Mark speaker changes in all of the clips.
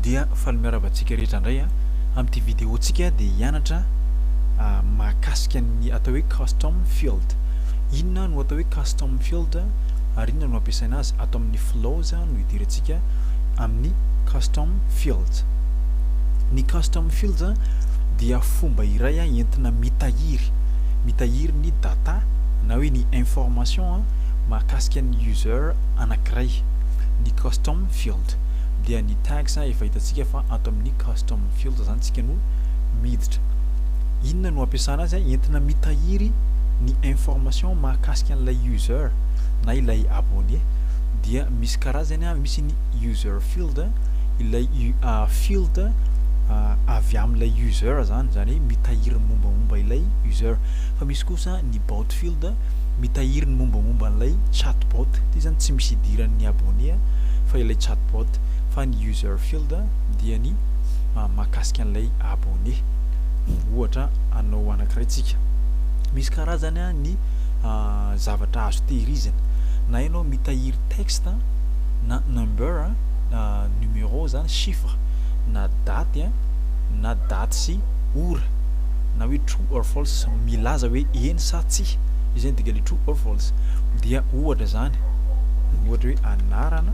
Speaker 1: dia faly miarahaba antsika rehetra indray a amin'ity vidéo tsika dia hianatra mahakasika ny atao hoe custom field inona no atao hoe custom field ary inona no ampiasaina azy ato amin'ny flows no hidirantsika amin'ny custom fields ny custom fields dia fomba iray a entina mitahiry mitahiry ny data na hoe ny information mahakasika ny user anankiray ny custom field dia ny tags efa hitantsika fa ato amin'ny custom field zany tsika no miditra inona no ampiasana azy entina mitahiry ny information mahakasika an'ilay user na ilay abonné dia misy karazany a misy ny user field ilay field avy amin'ilay user zany zany hoe mitahiry mombamomba ilay user fa misy kosa ny bout field mitahiry ny mombamomba an'ilay chatbot, ity izany tsy misy idiran'ny abonné fa ilay chatbot fa ny user field dia ny mahakasika an'ilay abonné, ohatra anao anankiray tsika. Misy karazany ny zavatra azo tehirizina, na ianao mitahiry texte na number na numéro izany chiffre na daty na daty sy ora. na hoe true or false milaza hoe eny sa tsia, io zany dika le true or false dia ohatra zany ohatra hoe anarana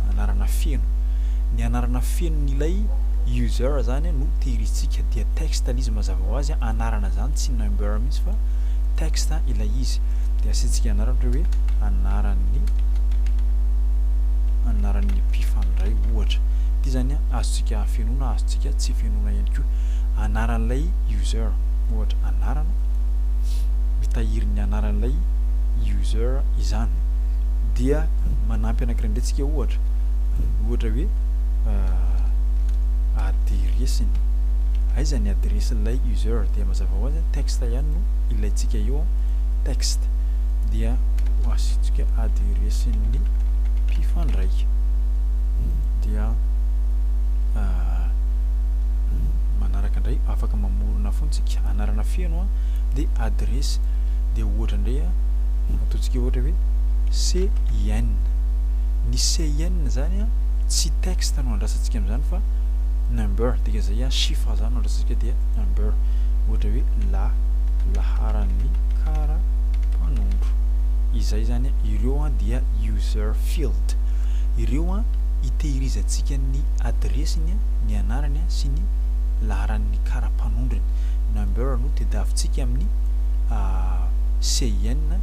Speaker 1: anarana feno ny anarana fenon'ilay user zany no tehirizitsika dia text le izy mazava ho azy anarana zany tsy number mihitsy fa text ilay izy dia asiantsika anarana ohatra hoe anaran'ny anaran'ny mpifandray ohatra ity zany azontsika afenona azontsika tsy fenona ihany koa anaran'ilay user ohatra anarana mitahiry ny anaran'ilay user izany dia manampy anankiray indray tsika ohatra ohatra hoe adiresiny aiza ny adiresin'ilay user dia mazava ho azy texte ihany no ilaintsika eo texte dia ho asitsika adiresin'ny mpifandraika dia manaraka ndray afaka mamorona fony tsika anarana feno a de adiresy de ohatra ndray a ataontsika ohatra hoe CIN ny CIN zany a tsy texte no andrasantsika amzany fa number dika zay a chiffre zany no andrasantsika dia number ohatra hoe la laharan'ny kara mpanondro izay zany ireo a dia user field ireo a itehirizantsika ny adiresiny a ny anarany sy ny laharan'ny kara-panondrony, number no tedavitsika amin'ny CIN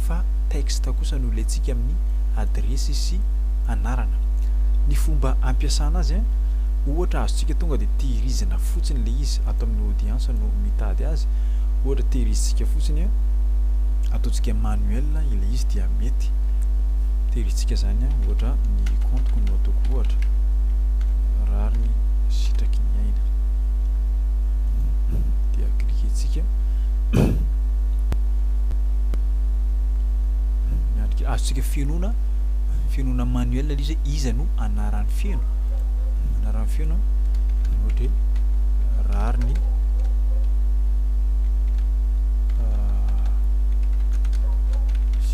Speaker 1: fa texte kosa no ilaintsika amin'ny adiresy sy anarana. Ny fomba ampiasana azy an, ohatra azontsika tonga dia tehirizina fotsiny ilay izy, ato amin'ny audience no mitady azy, ohatra tehirizintsika fotsiny an, ataontsika manuel ilay izy dia mety. tery hitsika zany an ohatra ny compte-ko no ataoko ohatra rariny sitraky ny aina dia cliquer-tsika miandrika azontsika fenona fenona manuel le izy iza no anarany feno anarany feno ohatra hoe rariny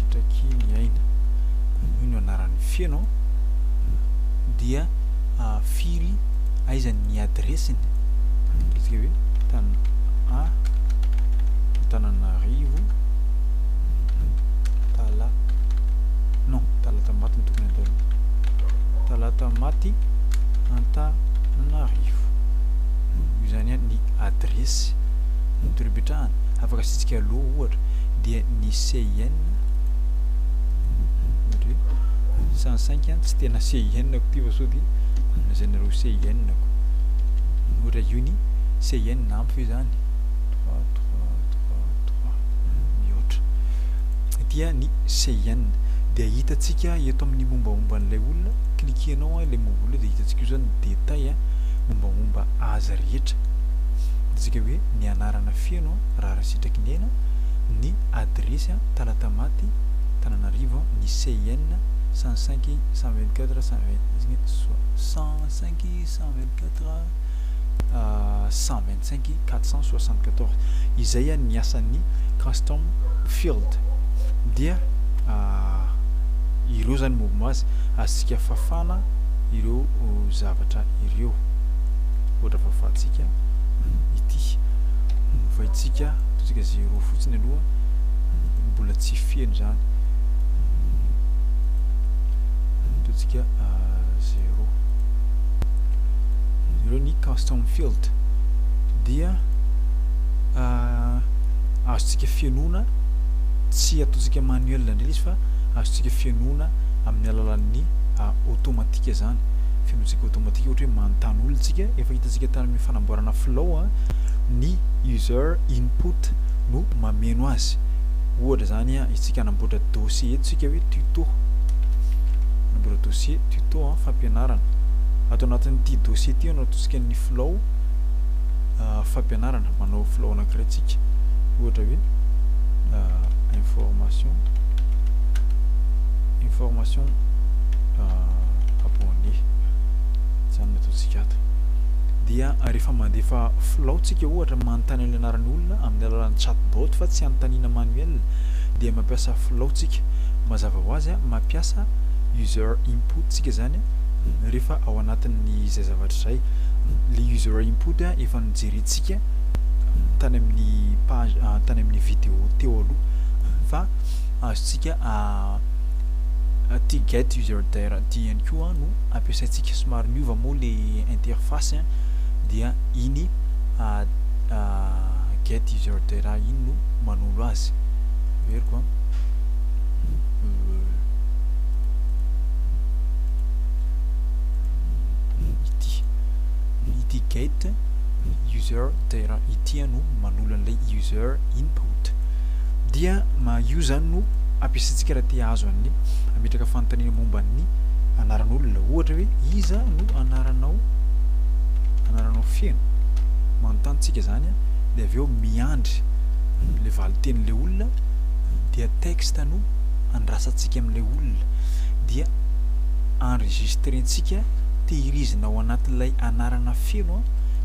Speaker 1: Trakehy ny aina hoy no anarany feno dia firy aiza ny adiresiny midika hoe tan a Antananarivo tala non Talatamaty no tokony ataony Talatamaty Antananarivo io zany a ny adiresy ny toeram-pipetrahany afaka asiantsika allo ohatra dia ny CIN satria sans sainky an tsy tena CIN-ko ity fa sao dia anona izay nareo CIN-ko ohatra io ny CIN ampy ve izany trois trois trois trois mihoatra ity an ny CIN dia hitantsika eto amin'ny mombaomba an'ilay olona cliquer-nao an ilay moule dia hitantsika io izany ny détail an mombaomba azy rehetra hitantsika hoe ny anarana feno an Raharaha Sitraky ny Aina, ny adiresy a Talatamaty, Tananarivo a ny CIN 105 124 125 425 474 izay a ny asan'ny Custom Field dia a ireo zany mouvement azy azontsika fafana ireo zavatra ireo. ohatra fahafahantsika ity novaintsika ataontsika zero fotsiny aloha mbola tsy feno zany ataontsika euh, zero zero ny custom field dia euh, azontsika fenoana tsy ataontsika manuel indray izy fa azontsika fenoana amin'ny alalan'ny euh, automatika zany fenotsika automatique ohatra hoe manontany olona tsika efa hitantsika tany amin'ny fanamboarana flow a ny user input no mameno azy ohatra zany a itsika anamboatra dossier eto tsika hoe tuto anamboatra dossier tuto a fampianarana ato anatin'ity dossier ty anao tosika ny flow fampianarana manao flow anakiray tsika ohatra hoe information information abonné zany no ataontsika ato dia rehefa mandefa filao tsika ohatra manontany amin'ny anaran'ny olona amin'ny alalan'ny chatbot fa tsy anontaniana manuel dia mampiasa filao tsika mazava ho azy mampiasa user input tsika zany rehefa ao anatin'ny izay zavatra izay le user input efa nojerentsika tany amin'ny page tany amin'ny vidéo teo aloha fa azontsika aty get user there aty ihany koa no ampiasaintsika somary miova moa le interface dia iny get user there iny no manolo azy averiko a ity ity get user there ity no manolo an'ilay user input dia io zany no ampiasaintsika raha te hahazo an'ny hametraka fanontaniana momba ny anaran'olona ohatra hoe iza no anaranao anaranao feno manontany tsika zany a de avy eo miandry le valin-tenin'le olona dia texte no andrasantsika amin'le olona dia enregistrentsika tehirizina ao anatin'ilay anarana feno a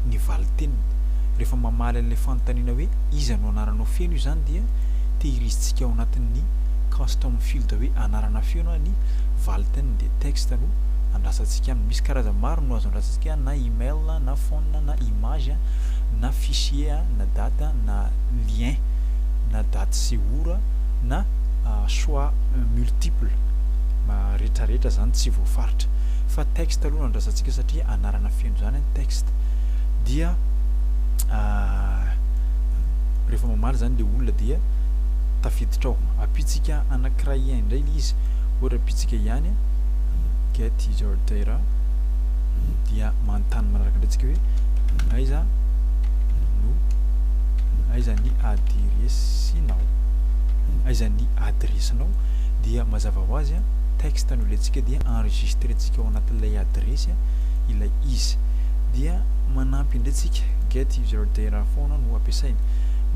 Speaker 1: ny valin-teniny rehefa mamaly an'le fanontaniana hoe iza no anarana Anao feno izany dia tehirizitsika ao anatin'ny custom field hoe anarana feo na ny valiteny dia text no andrasantsika aminy. Misy karazany maro no azo andrasantsika na email na phone na image na fichier na date na lien na date sy ora na choix multiple na retraretra izany tsy voafaritra fa text aloha no andrasantsika satria anarana feno izany text dia rehefa mamaly zany le olona dia tafiditra ao ampitsika anankiray ihany indray ilay izy ohatra ampitsika ihany get your data dia manontany manaraka indray tsika hoe aiza no aiza ny adiresinao aiza ny adiresinao dia mazava ho azy a texte no ilaintsika dia enregistrentsika ao anatin'ilay adiresy ilay izy dia manampy indray tsika get plusieurs de raha foana no ampiasainy.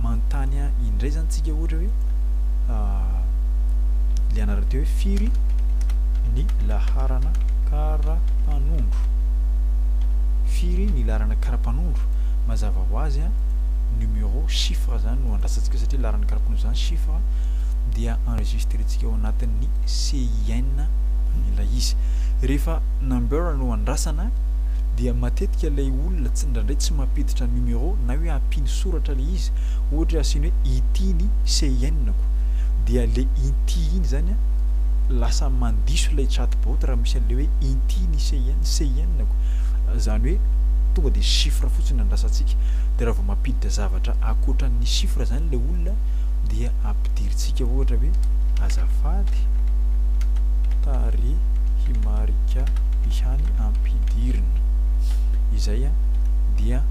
Speaker 1: Manontany ahy indray zany tsika ohatra hoe le anarana teo hoe firy ny laharana karapanondro. Firy ny laharana karapanondro? Mazava ho azy a numéro chiffre zany no andrasantsika satria laharana karapanondro zany chiffre dia enregistrentsika ao anatin'ny CIN ilay izy. Rehefa number no andrasana dia matetika ilay olona tsy indraindray tsy mampiditra numéro na hoe ampiny soratra ilay izy ohatra hoe asiany hoe ity ny CIN-ko dia ilay inty iny izany an lasa mandiso ilay chatbot raha misy an'ilay hoe inty ny CIN, CIN-ko izany hoe tonga dia chiffre fotsiny andrasantsika dia raha vao mampiditra zavatra ankoatran'ny chiffre izany ilay olona dia ampidirina Tsika ohatra hoe azafady tarehimarika ihany ampidirina izay a dia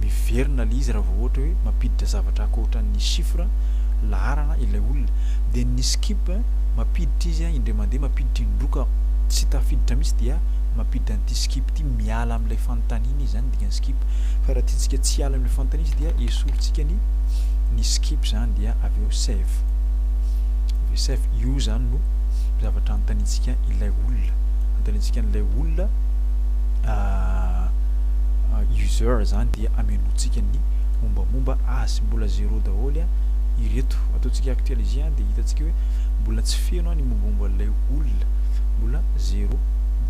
Speaker 1: miverina le izy raha vao ohatra hoe mampiditra zavatra akoatran ny chiffre laharana ilay olona dia ny skip mampiditra izy a indray mandeha mampiditra indroa ka tsy tafiditra mihitsy dia mampiditra an'ity skip ity miala amin'ilay fanontaniana izy zany ny dikan'izany. skip fa raha tiantsika tsy hiala amin'ilay fanontaniana izy dia esorintsika ny ny skip izany dia avy eo save avy eo save io izany no zavatra anontaniantsika ilay olona anontaniantsika an'ilay olona ah, ah, user izany dia amenoantsika ny mombamomba azy mbola zéro daholo a ireto ataontsika actualiser a dia hitantsika hoe mbola tsy feno a ny mombamomba an'ilay olona mbola zéro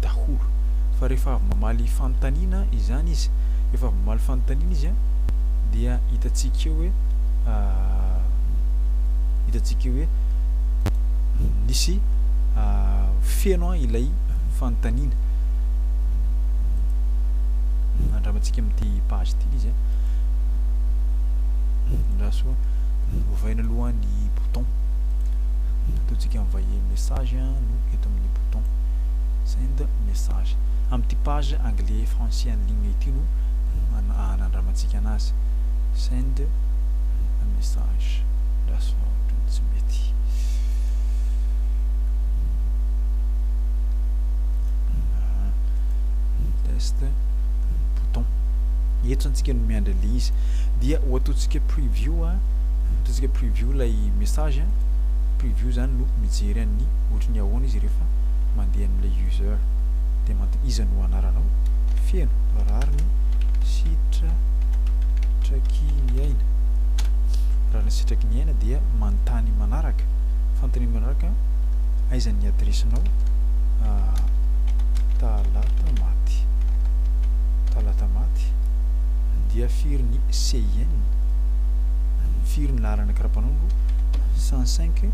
Speaker 1: daholo fa rehefa avy mamaly fanontaniana izany izy, rehefa avy mamaly fanontaniana izy an, dia hitantsika eo hoe hitantsika eo hoe nisy feno an ilay fanontaniana. Andramantsika amin'ity page ity izy an. Andraso ovaina aloha ny bouton. Ataontsika envoyer message no eto amin'ny bouton. Send message. Amin'ity page anglais français en ligne ity no hanandramantsika anazy. Send a message. Lasa ohatran'ny tsy mety. Test. Bouton. Eto zany tsika no miandry an'ilay izy. Dia ho ataontsika preview. Ataontsika preview ilay message. Preview zany no mijery an'ny ohatry ny ahoana izy rehefa. mandeha amin'ilay user dia mant iza no anaranao feno rariny sitra traky ny aina rariny sitraky ny aina dia mantany manaraka fantany manaraka aiza ny adresinao ah, talata maty talata maty dia firy ny CIN firy ny laharana karapanondro 105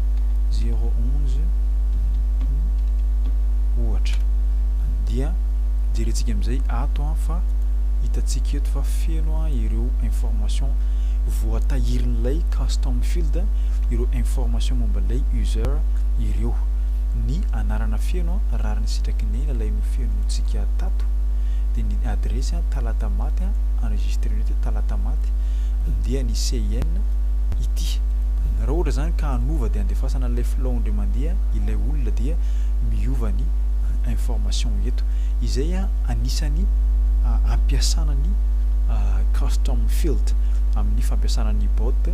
Speaker 1: 011 ohatra dia jerentsika amin'izay ato an fa hitantsika eto fa feno an ireo information voatahirin'ilay custom field ireo information momba ilay user ireo ny anarana feno an rariny sitraky ny lalay no fenontsika tato dia ny adresy an talata maty an enregistré ny hoe talata maty dia ny CIN ity raha ohatra izany ka hanova dia andefasana ilay long dia mandeha ilay olona dia miova ny information eto. Izay anisany ampiasana ny custom field amin'ny fampiasana ny bot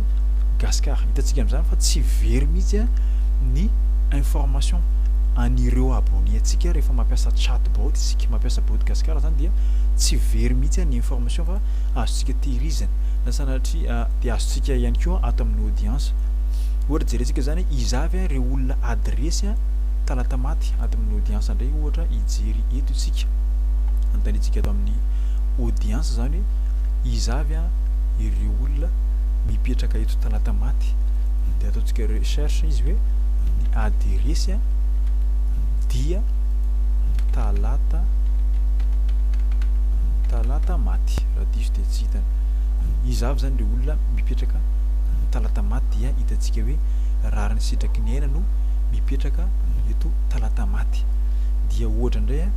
Speaker 1: Gascar. Hitantsika amin'izany fa tsy very mihitsy ny information an'ireo abonné antsika rehefa mampiasa chat bot isika, mampiasa bot Gascar izany dia tsy very mihitsy ny information fa azontsika tehirizina na sanatria dia azontsika ihany koa ato amin'ny audience. Ohatra jerentsika zany iza avy ireo olona ady resy an talata maty ato amin'ny audience ndray ohatra hijery eto isika anontaniantsika ato amin'ny audience zany hoe iza avy an ireo olona mipetraka eto talata maty dia ataontsika recherche izy hoe ny ady resy an dia talata talata maty raha diso dia tsy hitany iza avy zany ireo olona mipetraka talata maty dia hitantsika hoe rary ny sitraky ny aina no mipetraka eto Talatamaty. Dia ohatra indray a,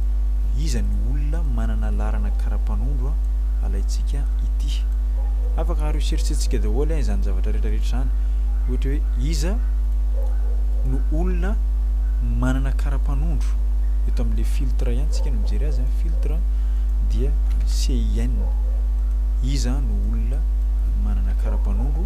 Speaker 1: iza no olona manana laharana karapanondro a, alaintsika ity. Afaka recherchentsika daholo a izany zavatra rehetra rehetra izany. Ohatra hoe iza no olona manana karapanondro. Eto amin'ilay filtre ihany tsika no mijery azy a, filtre dia CIN. Iza no olona manana karapanondro.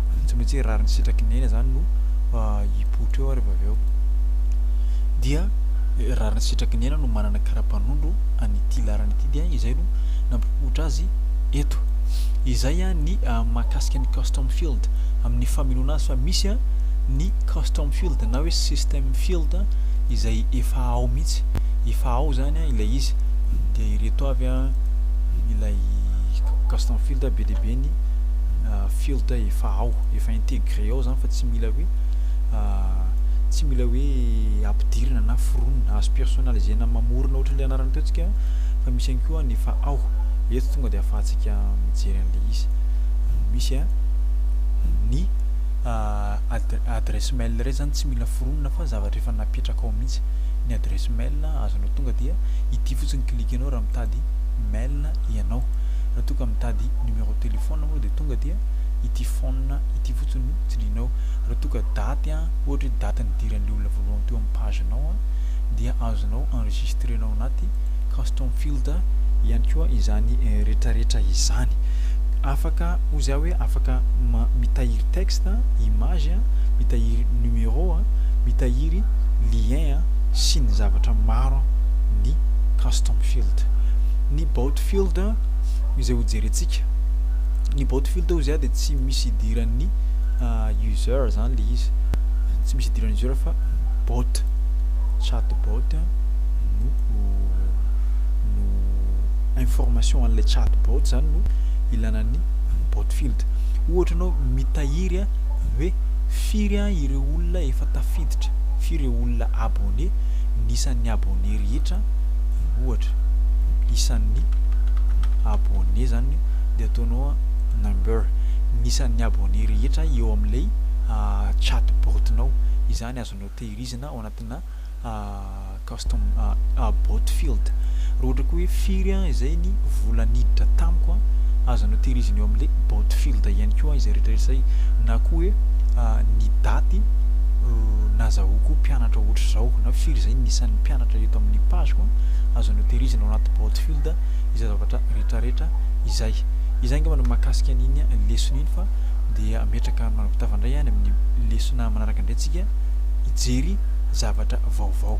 Speaker 1: tsy maintsy hoe rariny sitraky ny aina izany no hipoitra eo ary avy eo dia rariny sitraky ny aina no manana karapanondro an'ity laharana ity dia izay no nampipoitra azy eto izay a ny ah, mahakasika ny custom field amin'ny famenoana azy fa misy a ny custom field na hoe system field izay efa ao mihitsy efa ao zany a ilay izy dia ireto avy a ilay custom field be dia be ny ah, Field day efa ao, efa integrer ao zany fa tsy mila hoe tsy mila hoe ampidirina na foronina, azo personnaliser-na ny mamorona ohatry ny le anarana teo tsika fa misy ihany koa ny efa ao, eto tonga dia afahantsika mijery an'le izy. Misy a, ny ad- adresse mail iray zany tsy mila foronina fa zavatra efa napetraka ao mihitsy, ny adresse mail azonao tonga dia ity fotsiny cliquer-nao raha mitady mail ianao, raha toa ka mitady numéro de téléphone. fotoana moa dia tonga dia ity phone ity fotsiny no tsindrianao. Raha toa ka daty an, ohatra hoe daty nidiran'ilay olona voalohany teo amin'ny page nao an, dia azonao enregistrer-nao anaty custom field ihany koa izany retraretra izany. Afaka hozy aho hoe afaka mitahiry texte an, image an, mitahiry numéro an, mitahiry lien an, sy ny zavatra maro ny custom field. Ny bout field. izay ho jerentsika. Ny bot filter hoy za dia tsy misy idiran'ny user zany le izy, tsy misy idiran'ny user fa bot, chat bot no no information an'ilay chat bot zany no ilana ny bot filter. Ohatra anao mitahiry hoe firy ireo olona efa tafiditra, firy ireo olona abonné, ny isan'ny abonné rehetra. ohatra isan'ny abonné izany dia ataonao a number ny isan'ny abonné rehetra eo amin'ilay chat bot nao izany azonao tehirizina ao anatina custom bot field raha ohatra koa hoe firy a izay ny vola niditra tamiko a azonao tehirizina eo amin'ilay bot field ihany koa izay rehetra izay na koa hoe ny daty nazahoako mpianatra ohatra izao na firy izay ny isan'ny mpianatra zavatra eto amin'ny page ko azonao tehirizina ao anaty Broadfield izay zavatra retraretra izay. Izay angamba no mahakasika an'iny lesona iny fa dia metraka manapitava indray any amin'ny lesona manaraka indray tsika hijery zavatra vaovao.